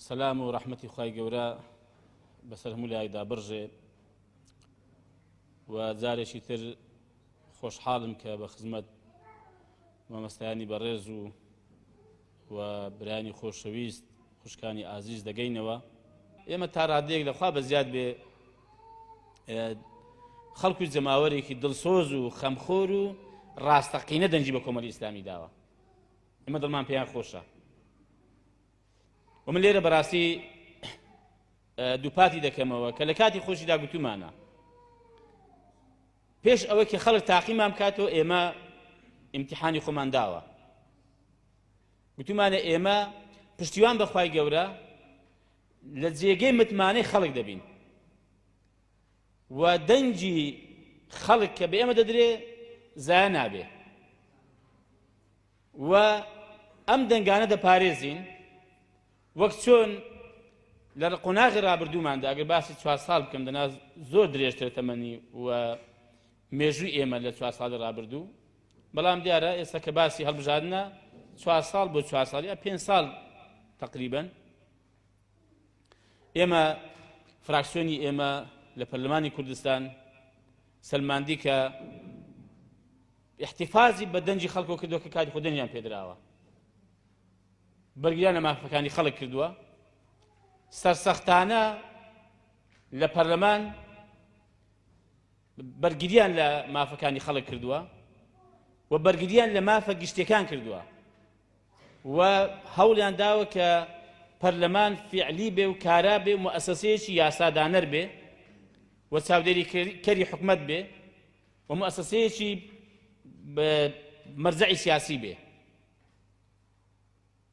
سەسلام و ڕەحمەتی خی گەورە بەسەر هەموو لایدا بڕژێ و جارێکی تر خۆشحاڵم کە بە خزمەت مامەستانی بەڕێز و و برایانی خۆشەویست خوشکانی ئازیز دەگەینەوە ئێمە تا ڕادەیەک لەخوا بە زیاد بێ خەڵکو جەماوەرێکی دڵسۆز و خەمخۆر و ڕاستەقینە دەنجی بە کۆمەلی ئیسلامی داوە ئمە دڵمان پێیان خۆشە ومن لێرە بەڕاستی دووپاتی دەکەمەوە کە لە کاتی خۆشیدا گوتومانە پێش ئەوەی کە خەڵک تاقیمان بکاتەوە ئێمە ئیمتیحانی خۆمان داوە گوتمانە ئێمە پشتیوان بەخوای گەورە لە جێگەی متمانەی خەڵک دەبین و دەنگی خەڵک کە بە ئێمە دەدرێ زایە نابێ و ئەم دەنگانە دەپارێزین وەک چۆن لە قۆناغی ڕابردووماندا ئەگەر باسی چوار ساڵ بکەم دەنا زۆر درێژتر تەمەنی و مێژووی ئێمە لە چوار ساڵی ڕابردوو بەڵام دیارە ئێستا کە باسی هەڵبژاردنە چوار ساڵ بۆ چوار ساڵ یا پێنج ساڵ تقریبن ئێمە فراکسیۆنی ئێمە لە پەرلەمانی کوردستان سلماندی کە احتفازی بە دەنجی خەڵکۆ کردو کە کاتی خودێنیان پێدراوە بەرگریان لە مافەکانی خەڵک کردووە سەرسەختانە لە پەرلەمان بەرگریان لە مافەکانی خەڵک کردووە و بەرگریان لە مافە گشتەکان کردووە و هەوڵیان داوە کە پەرلەمان فعلی بێ و کارا بێ و مؤسسەیەکی یاسادانەر بێ و چاودێری کەری حکومت بێ و مؤسسەیەکی مەرجعی سیاسی بێ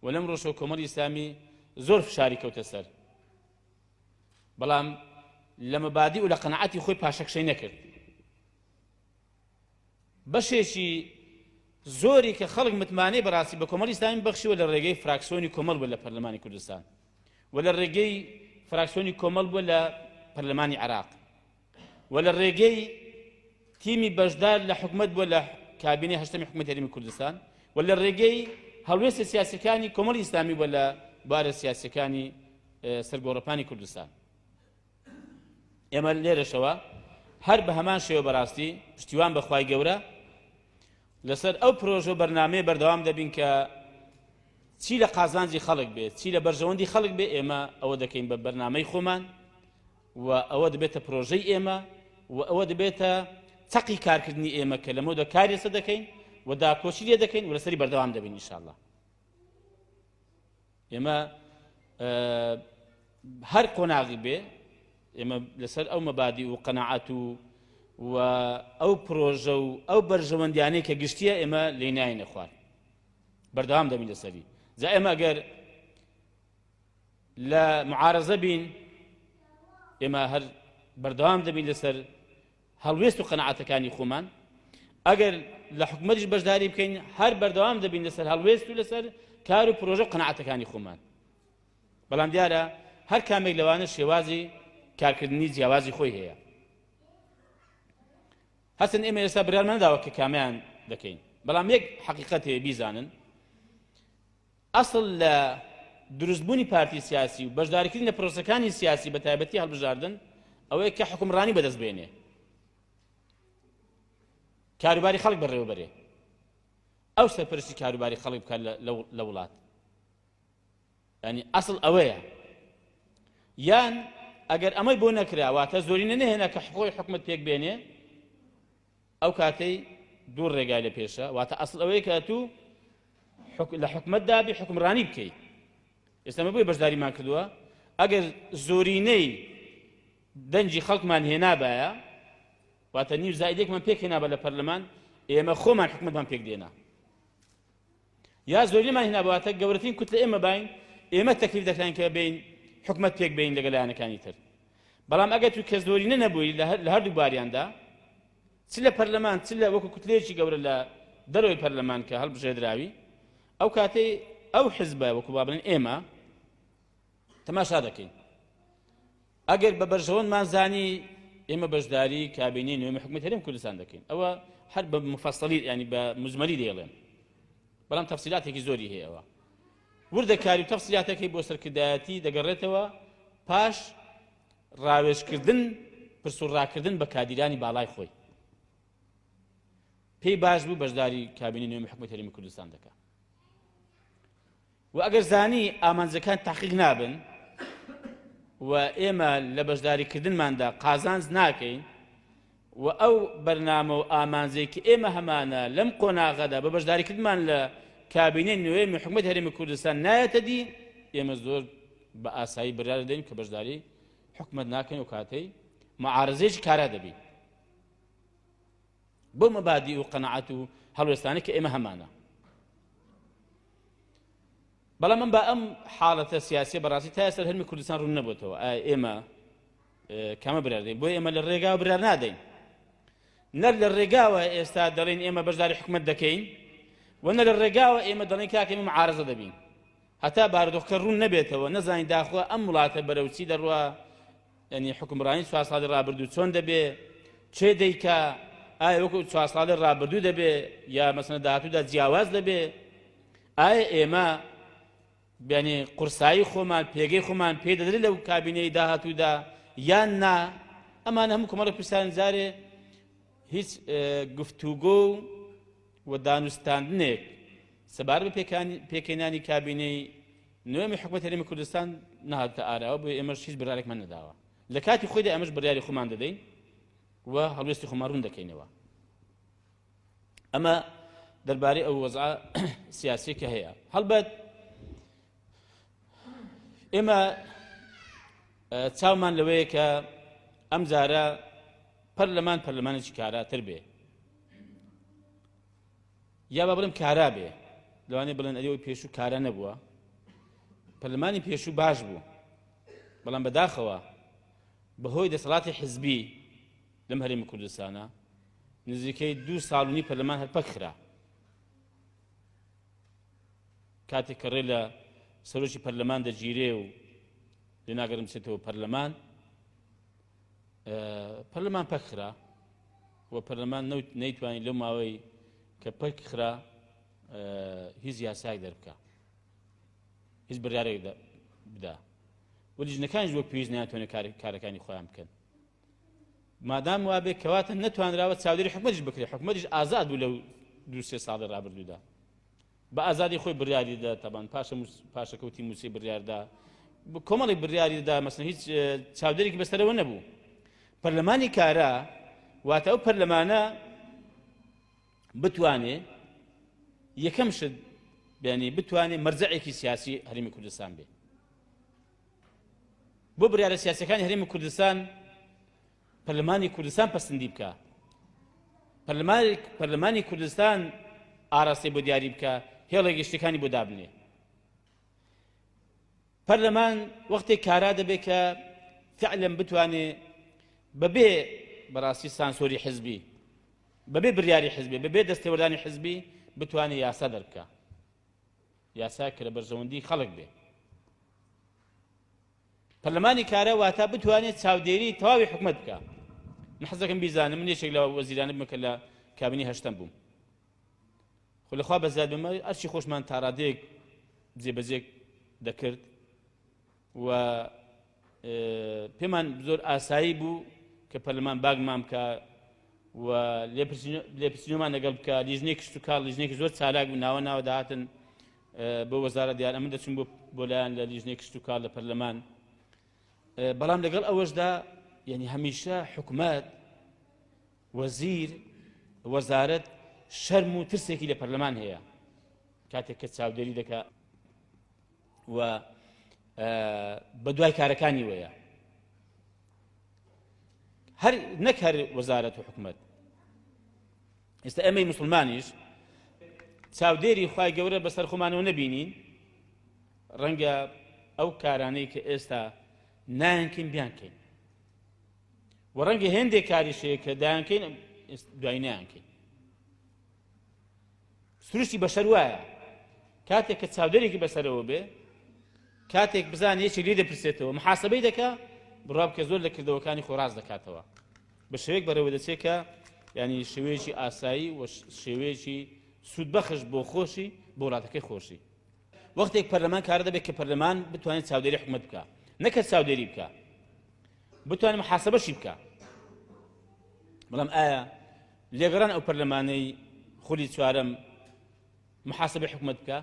و لەم ڕۆژەوە کۆمەڵی ئیسلامی زۆر فشاری کەوتە سەر بەڵام لە مەبادی و لە قەنەعەتی خۆی پاشەکشەی نەکرد بەشێکی زۆری کە خەڵک متمانەی بەڕاستی بە کۆمەڵی ئیسلامی بەخشیوە لە ڕێگەی فراکسۆنی کۆمەڵ بوو لە پەرلەمانی کوردستان و لە ڕێگەی فراکسۆنی کۆمەڵ بووە لە پەرلەمانی عراق و لە ڕێگەی تیمی بەشدار لە حکومەت بووە لە کابینەی هەشتەمی حکومەت هەرێمی کوردستان و لە ڕێگەی هەڵوێستە سیاسەکانی کۆمەڵی ئیسلامی بووە لە بارە سیاسەکانی سەرگۆڕەپانی کوردستان ئێمە لێرەشەوە هەر بە هەمان شێوە بەڕاستی پشتیوان بەخوای گەورە لەسەر ئەو پرۆژە و بەرنمەیە بەردەوام دەبین کە چی لە قازانجی خەڵک بێت چی لە بەرژەوەندی خەڵک بێ ئێمە ئەوە دەکەین بە بەرنمەی خۆمان و ئەوە دەبێتە پرۆژەی ئێمە و ئەوە دەبێتە چەقی کارکردنی ئێمە کە لەمەوە دە کاری لەسەر دەکەین و داکۆچی لێ دەکەین و لەسەری بەردەوام دەبین ئینشاءاللە ئێمە هەر قۆناغی بێ ئێمە لەسەر ئەو مەبادی و قەنەعات و و ئەو پرۆژە و ئەو بەرژەوەندیانەی کە گشتیە ئێمە لێ ناینە خوار بەردەوام دەبین لەسەری جا ئێمە گەر لە معارزە بین ئێمە هەر بەردەوام دەبین لەسەر هەڵوێست و قەنەعاتەکانی خۆمان ئەگەر لە حکومەتیش بەشداری بکەین هەر بەردەوام دەبین لەسەر هەڵوێست و لەسەر کار و پرۆژە و قەنەعاتەکانی خۆمان بەڵام دیارە هەر کامێک لەوانە شێوازی کارکردنی جیاوازی خۆی هەیە هەستن ئێمە ئێستا برارمەنداوە کە کامیان دەکەین بەڵام یەک حقیقەتێ بیزانن ئەسڵ لە دروست بوونی پارتی سیاسی و بەشداریکردن لە پرۆسەکانی سیاسی بە تایبەتی هەڵبژاردن ئەوەیە کە حکومڕانی بەدەست بێنێ کاروباری خەڵک بەڕێوەبەرێ ئەو سەرپەرشتی کاروباری خەڵک بکات لە وڵات ینی ئەسڵ ئەوەیە یان ئەگەر ئەمەی بۆ نەکراواتە زۆرینە نهێنا کە حقۆی حکومت پێک بێنێ ئەو کاتەی دوو ڕێگای لە پێشە واتە ئەسڵ ئەوەیە کە ئەتوو حک... لە حکومەت دابی حکمڕانی بکەی ئێستا مە بۆی بەشداریمان کردووە ئەگەر زۆرینەی دەنجی خەڵکمان هێنابایە واتە نیو زایدێکمان پێک هێنابە لە پەرلەمان ئێمە خۆمان حکومەتمان پێک دێنا یا زۆرینەمان هینابوو واتە گەورەترین کوتلە ئێمە باین ئێمە تەکلیف دەکراین کە بین حکومەت پێک بین لەگەل لایەنەکانی تر بەڵام ئەگەر تو کە زۆرینە نەبووی لە هەردوو باریاندا چ لە پەرلەمان چ لە وەکو کوتلەیەکی گەورە لە دەرەوەی پەرلەمان کە هەڵبژێدراوی ئەو کاتەی ئەو حزبە وەکو بابلین ئێمە تەماشا دەکەین ئەگەر بە بەرژەوەندمان زانی ئێمە بەشداری کابینەی نوێمی حکومەت هەرێم کوردستان دەکەین ئەوە هەر بە مفەسەلی ینی بە مزمەلی دەیڵێن بەڵام تەفسیلاتێکی زۆری هەیەەوە وردەکاری و تەفسیلاتەکەی بۆ سەرکردایەتی دەگەڕێتەوە پاش ڕاوێژکردن پرسوڕاکردن بە کادیرانی باڵای خۆی پێی باش بوو بەشداری کابینی نوێمی حکومەت هەرمی کوردستان دەکە وە ئەگەر زانی ئامانجەکان تەحقیق نابن و ئێمە لە بەشداری کردنماندا قازانج ناکەین و ئەو بەرنامە و ئامانجەی کە ئێمە هەمانە لەم قۆناغەدا بە بەشداری کردمان لە کابینەی نوێمی حکومت هەرێمی کوردستان نایەتە دی ئێمە زۆر بە ئاسایی برار دەین کە بەشداری حکومت ناکەین و کاتەی معارزێکی کارا دەبین بەو مەبادی و قەنەعات و هەڵوێستانە کە ئێمە هەمانە بەڵام من بە ئەم حاڵەتە سیاسی بەڕاستی تا ئێستا هەرمی کوردستان ڕوون نەبووتەوە ئێمە کامە برادەین بۆ ئێمە لە ڕێگا برار نادەین نەر لە ڕێگاوە ئێستا دەڵێن ئێمە بەشداری حکومت دەکەین و نە لە ڕێگاوە ئێمە دەڵێن کاکە ئێمە عارزە دەبین هەتا بارودۆخکە ڕوون نەبێتەوە نەزانین داخوا ئەم وڵاتە بەرەوچی دەڕوە یانی حوکمڕانی چوار ساڵی ڕابردوو چۆن دەبێ؟ چێ دەیکا؟ ئایا وەکو چوار ساڵی ڕابردوو دەبێ یا مەسەنە داهاتوودا جیاواز دەبێ؟ ئایا ئێمە بیانی قورسایی خۆمان پێگەی خۆمان پێ دەدرێت لەو کابینەی داهاتوودا یان نا ئەمان هەموو کۆمەڵە پرسان جارێ هیچ گفتوگۆ و دانوستاندنێک سەبار بە پێکەنانی کابینەی نۆیەمی حکومەت هەرێمی کوردستان نەهاتوتە ئاراوە بۆیە ئێمەش هیچ بڕارێکمان نەداوە لە کاتی خۆیدا ئەمەش بڕیاری خۆمان دەدەین و هەڵوێستی خۆمان ڕوون دەکەینەوە ئەمە دەربارەی ئەو وەزع سیاسی کە هەیە هەڵبەت ئێمە چاومان لەوەیە کە ئەم جارە پەرلەمان پەرلەمانێکی کاراتر بێ یا با بڵێم کارا بێ، لەوانەیە بڵێن ئەرێ ئەوی پێشوو کارا نەبووە، پەرلەمانی پێشوو باش بوو، بەڵام بەداخەوە بەهۆی دەسەڵاتی حزبی لەم هەرێمی کوردستانا نزیکەی دوو ساڵ و نی پەرلەمان هەر پەک خرا. کاتێک کە ڕێ لە سەرۆکی پەرلەمان دەگیرێ و لێناگەرم بچێتەوە پەرلەمان، پەرلەمان پەکخرا و پەرلەمان نەیتوانین لەو ماوەی کە پەکخرا هیچ یاساک دەربکە هیچ بڕارێک بدا و لیژنەکانش وەک پێویست ناتوانێت کارەکانی خۆیان بکەن مادام وابێ کەواتە نەتوانراوە چاودێری حکومەتش بکرێت حکومەتش ئازاد بوو لەو دو سێ ساڵی ڕابردوودا بە ئازادی خۆی بریاری دا تابان پاشە پاشەکەوتی مووسی بریاردا کۆمەڵی بریاری دا مەسن هیچ چاودێرێکی بەسەرەوە نەبوو پەرلەمانی کارا واتە ئەو پەرلەمانە بتوانێ یەکەم شت بینی بتوانێت مەرجەعێکی سیاسی هەرمی کوردستان بێ بۆ بریارە سیاسەکانی هەرمی کوردستان پەرلەمانی کوردستان پەسندی بکا پەرلەمانی کوردستان ئاراستەی بۆ دیاری بکە هێڵە گەشتەکانی بۆ دابنێ پەرلەمان وەختێک کارا دەبێت کە فعلم بتوانێ بەبێ بەڕاستی سانسۆری حزبی بەبێ بریاری حزبی بەبێ دەستێوەردانی حزبی بتوانێت یاسا دەربکە یاسا کە لە بەرژەوەندی خەڵک بێ پەرلەمانی کارا واتا بتوانێت چاودێری تەواوی حکومەت بکە من حەزەکەم بیزانم من یەکێک لە وەزیرانە بمە کە لە کابینی هەشتەم بووم خۆ لەخوا بەزار بمە ئەرچی خۆشمان تاڕادێک جێبەجێک دەکرد و پێمان زۆر ئاسایی بوو کە پەرلەمان باگمان بکە و لێپسینەمان لەگەڵ بکە لیژنێک شتوکار لیژنێکی زۆر چالاک و ناوە ناوە داهاتن بۆ وەزارە دیار ئەمن دەچون بۆ بۆ لایەن لە لیژنەی کشت و کار لە پەرلەمان بەڵام لەگەڵ ئەوەشدا یعنی هەمیشە حکومت وەزیر وەزارت شەرم و ترسێکی لە پەرلەمان هەیە کاتێک کە چاودێری دەکە و بە دوای کارەکانی وەیە هەر نەک هەر وەزارەت و حکومت ئێستا ئێمەی موسڵمانیش چاودێری خوای گەورە بەسەر خۆمانەوە نەبینین ڕەنگە ئەو کارانەی کە ئێستا نایەنکەین بیانکەین و ڕەنگە هێندێک کاریشەیە کە دایانکەین دوای نیانکەین سروشتی بەشەر وایە کاتێک کە چاودێرێکی بەسەرەوە بێ کاتێک بزان یەکی لێ دەپرسێتەوە محاسبەی دەکا بڕاب کە زۆر لە کردەوەکانی خۆراز دەکاتەوە بە شێوەیەک بەڕێوە دەچێت کە یانی شێوەیەکی ئاسایی و شێوەیەکی سوودبەخش بۆ خۆشی بۆ وڵاتەکەی خۆشی وەختێک پەرلەمان کارە دەبێت کە پەرلەمان بتوانێت چاودێری حکومت بکە نەکە چاودێری بکە بتوانێت محاسبەشی بکە بەڵام ئایا لێگەڕان ئەو پەرلەمانەی خولی چوارم محاسبە حکومت بکە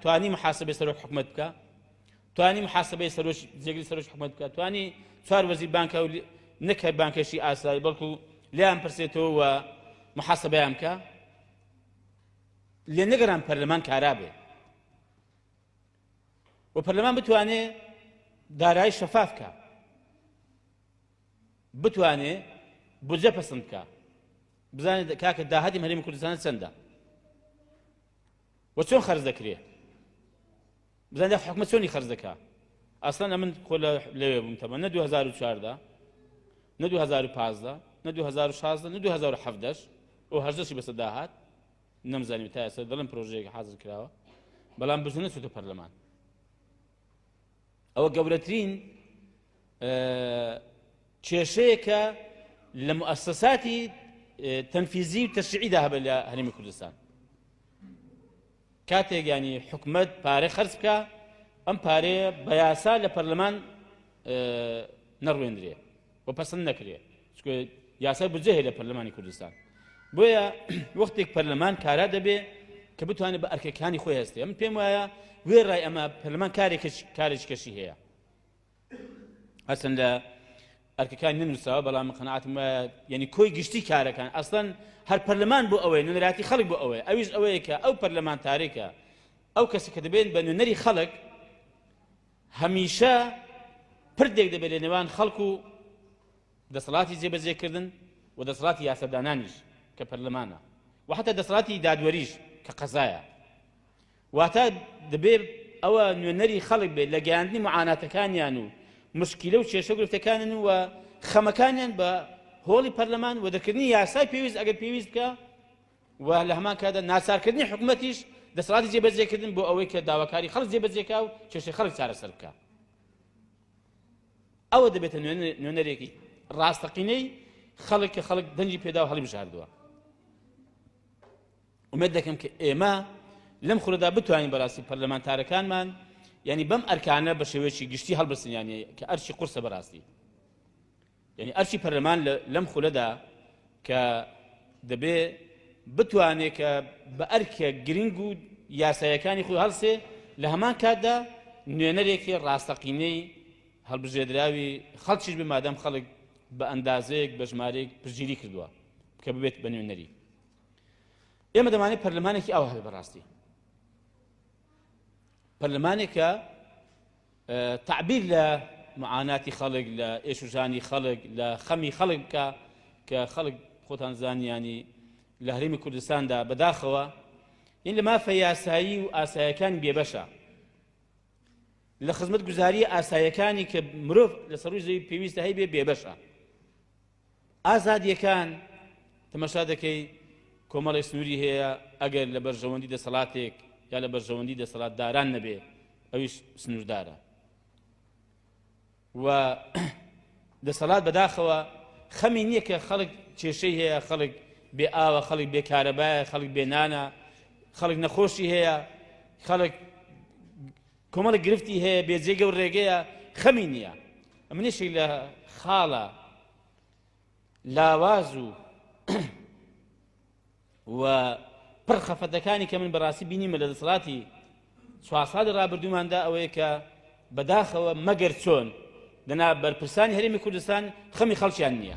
توانی محاسبەی سەرۆک حکومت بکە توانی محاسبەی سەرۆک جێگری سەرۆک حکومت بکە توانی چوار وەزیر بانکە و نەک هەر بانکەشی ئاسایی بەڵکو لیان پرسێتەوە و محاسبەیان بکە لێ نەگەران پەرلەمان کارا بێ و پەرلەمان بتوانێ دارایی شەفاف بکە بتوانێ بجە پسند بکە بزانێت کاکە داهاتی هەرێمی کوردستان چەندە و چۆن خەرز دەکرێ بزانێت حکومە چۆنی خەرز دەکا ئەسڵەن ئەمن خۆ لەوێ بووم تەمە نە 2014 نە 2015 نە 2016 نە 2017 ئەو هەشدەشی بەسە داهات نەمزانیم تا ئێستا دەڵم پرۆژەیەک حاضر کراوە بەڵام بزنە چوتە پەرلەمان ئەوە گەورەترین کێشەیە کە لە مؤسساتی تەنفیزی و تەشعیدا هەبە لە هەرمی کوردستان کاتێک ینی حکومت پارە خرج بکە ئەم پارەیە بە یاسا لە پەرلەمان نەڕوێندرێ و پەسند نەکرێ چکە یاسای بودجە هەیە لە پەرلەمانی کوردستان بۆیە وەختێک پەرلەمان کارا دەبێ کە بتوانێت بە ئەرکەکانی خۆی هەستێ من پێم وایە وێ ڕای ئەمە پەرلەمان کارێک کارێک کەشی هەیە هەستن لە ئەرکەکان ننووسەوە بەڵام قەنعاتم یعنی کۆی گشتی کارەکان ئەسڵەن هەر پەرلەمان بۆ ئەوەی نوێنەراتی خەڵک بۆ ئەوەیە ئەویش ئەوەیە کە ئەو پەرلەمان تارێکە ئەو کەسی کە دەبێن بە نوێنەری خەڵک هەمیشە پردێک دەبێت لە نێوان خەڵک و دەسەڵاتی جێبەجێکردن و دەسەڵاتی یاسەدانانیش کە پەرلەمانە و حتا دەسەڵاتی دادوەریش کە قەزایە واتە دەبێت ئەوە نوێنەری خەڵک بێت لە گەیاندنی معاناتەکانیان و مشکیلە و کێشە گرفتەکانن و خەمەکانیان بە هۆڵی پەرلەمان و دەکردنی یاسای پێویست ئەگەر پێویست بکە و لە هەمان کاتدا ناچارکردنی حکومەتیش دەسەڵاتی جێبەجێکردن بۆ ئەوەی کە داواکاری خەڵک جێبەجێکا و کێشەی خەڵک چارەسەر بکە ئەوە دەبێتە نوێنەرێکی ڕاستەقینەی خەڵک کە خەڵک دەنگی پێدا و هەڵی بژاردووە ئومێد دەکەم کە ئێمە لەم خورەدا بتوانین بەڕاستی پەرلەمانتارەکانمان یعنی بەم ئەرکانە بە شێوەیەکی گشتی هەڵبسنیانە کە ئەرچی قورسە بەڕاستی یانی ئەرکی پەرلەمان لەم خولەدا کە دەبێ بتوانێ کە بە ئەرکە گرنگ و یاسایەکانی خۆی هەڵسێ لە هەمان کاتدا نوێنەرێکی ڕاستەقینەی هەڵبژێدراوی خەڵکیش بێ مادەم خەڵک بە ئەندازەیەک بە ژمارەیەک پرگیری کردووە کە ببێت بە نوێنەری ئێمە دەمانێت پەرلەمانێکی ئەو هەل بەڕاستی پەرلەمانێکە تەعبیر لە معاناتی خەڵک، لە ئێش و ژانی خەڵک، لە خەمی خەڵک بکە کە خەڵک خۆتان زانیانی لە هەرێمی کوردستاندا بەداخەوە یین لە مافە یاسایی و ئاسایەکانی بێبەشە. لە خزمەت گوزاری ئاسایەکانی کە مرۆڤ لە سەروی زەوی پێویستە هەیبێ بێبەشە. ئازادیەکان تەمەشا دەکەی کۆمەڵێ سنووری هەیە ئەگەر لە بەرژەوەندی دەسەڵاتێک یا لە بەرژەوەندی دەسەڵاتداران نەبێ ئەویش سنووردارە و دەسەڵات بەداخەوە خەمی نییە کە خەڵک کێشەی هەیە خەڵک بێ ئاوە خەڵک بێکارەبایە خەڵک بێنانە خەڵک نەخۆشی هەیە خەڵک کۆمەڵێک گرفتی هەیە بێ جێگە و رێگەیە خەمی نییە منیشی لە خاڵە لاواز و و پڕ خەفەتەکانی کە من بەڕاستی بینیمە لە دەسڵاتی چوار ساڵی ڕابردووماندا ئەوەیە کە بەداخەوە مەگەر چۆن دەنا بەرپرسانی هەرێمی کوردستان خەمی خەڵکیان نییە.